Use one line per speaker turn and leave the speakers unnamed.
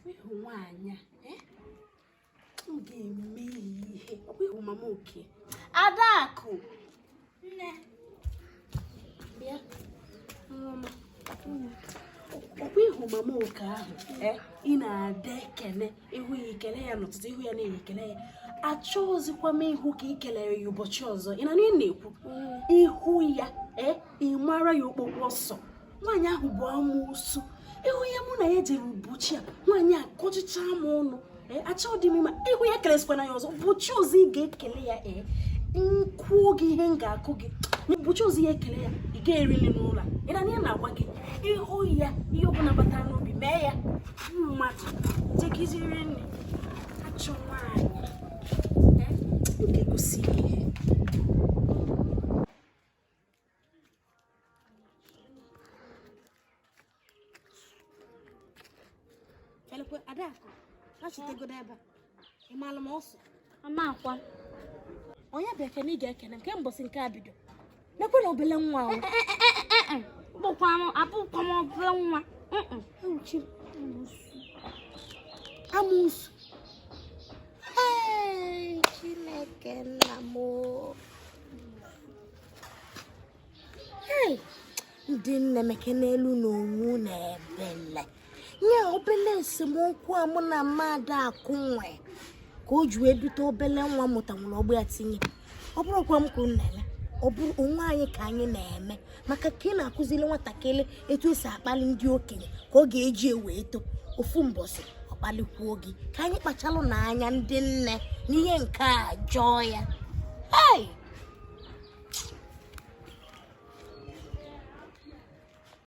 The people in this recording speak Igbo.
ị hụ nwaanyị a eh? m ga-eme ihe ọ bụ ị hụ mama Okey Adaku. nne bịa ọkwa ị hụ mama Okey ahụ eh? ị na-adị ekele ị hụ ya ị kele ya n'ụtụtụ ị hụ ya n'ehihie ị kele ya achọghịzikwa m ịhụ ka ị kelere ya ụbọchị ọzọ ị na-anụ ihe m na-ekwu mm. ị hụ ya eh? ị mara ya okpokpo ọsọ nwaanyị ahụ bụ amụsụ ị hụ ihe mụ na ya jere ụbọchị a nwaanyị a kọchịcha m ọnụ e, achọghị m ma ị hụ ya kelezikwana ya ọzọ ụbọchị ọzọ ị ga-ekele ya ee m kụọ gị ihe m ga-akụ gị ụbọchị ọzọ ị ga-ekele ya ị ga-eri nri n'ụlọ ị na-anụ ihe m na-agwa gị ị hụ ya ihe ọbụla batara n'obi mee ya mmadụ jegiziri nri achọ nwaanyị e, m ga-egosi ihe Adaku, achịtegodo ebe a. Ị maara m ọsọ? Ama akwa. Onye bụ ekene ị ga-ekene m mbọsị nke a bido. Mekwe na obele nwa ahụ. Bụkwa
m abụkwa m obele nwa.
Uchi amụsụ. Chineke nna m. ndị nne mekenelụ nụ onwe unu ebele nye obele esemokwu a mụ na mmadụ akụ nwe ka o ji wee dute obele nwa mụta nwere ọgbụ ya tinye ọ bụrọkwa m ka unu na-eme ọ bụrụ onwe anyị ka anyị na-eme maka ka ị na-akụziri nwatakịrị etu esi akpalị ndị okenye ka ọ ga-eji wee too ofu mbọsị ọ kpalịkwuo gị ka anyị kpachalụ nụ anya ndị nne n'ihe nke a jọọ ya